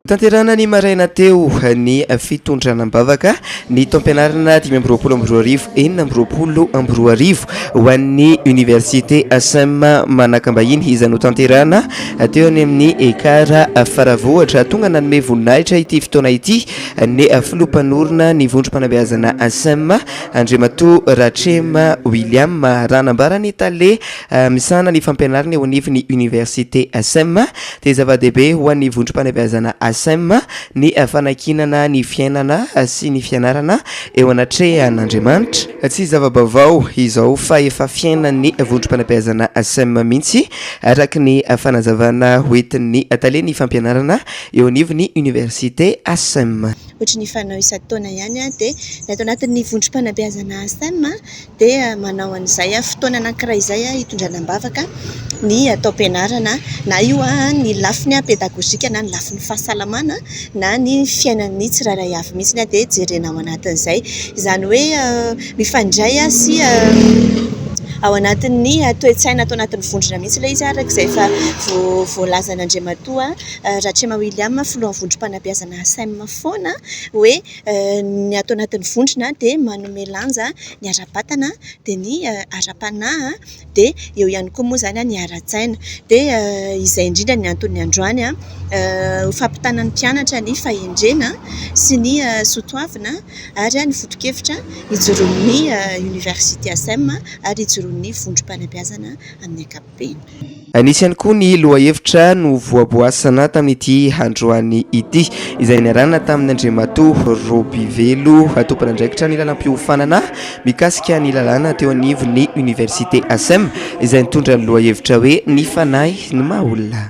Tanterahina ny maraina teo ny fitondrana am-bavaka ny taom-pianarana dimy amby roapolo amby roa arivo, enina amby roapolo amby roa arivo ho an'ny Oniversite Asm Manakambahiny izay notanterahina teo any amin'ny Ekar Faravohitra. Tonga nanome voninahitra ity fotoana ity ny filoha mpanorina ny vondrom-panabeazana Asm, Andriamatoa Ratrema William, raha nambara ny tale. Misahana ny fampianarana eo anivon' ny oniversite Asem, dia zava-dehibe ho an' ny vondrom-panabeazana Asem ny fanankinana ny fiainana sy ny fianarana eo anatrehan' Andriamanitra. Tsy zava-baovao izao fa efa fiainan' ny vondrom-panabeazana Asem mihitsy, araka ny fanazavana ho entin' ny talen' ny fampianarana eo anivon' ny oniversite Asem. Hoatry ny fanao isan-taona ihany dia ny ato anatin' ny vondrom-panabeazana Asem dia manao an'izay fotoana anankiray izay hitondrana am-bavaka ny taom-pianarana, na io ny lafiny pedagojika na ny lafiny fahasalamana na ny fiainan'ny tsirairay avy mihitsy dia jerena ao anatin'izay. Izany hoe mifandray sy ao anatin'ny toe-tsaina ato anatin'ny vondrona mihitsy ilay izy araka izay efa voalazan'Andriamatoa Ratrema William, filohan'ny vondrom-panabeazana Asem foana hoe. Ny ato anatin'ny vondrona dia manome lanja ny ara-batana, dia ny ara-panahy, dia eo ihany koa moa izany ny ara-tsaina. Dia izay indrindra no anton'ny androany ho fampitana ny mpianatra ny fahendrena sy ny soatoavina ary ny foto-kevitra ijoroan'ny oniversite Asem ary ijoroan'ny vondrom-panabeazana amin'ny ankapobeny. ankapobeny. Nisy ihany koa ny lohahevitra novoaboasana tamin'ity androany ity, izay niarahana tamin'ny Andriamatoa Robivelo, tompon'andraikitra ny lalam-piofanana mikasika ny lalàna teo anivon'ny Oniversite Asem, izay nitondra ny lohahevitra hoe Ny fanahy ny maha-olona.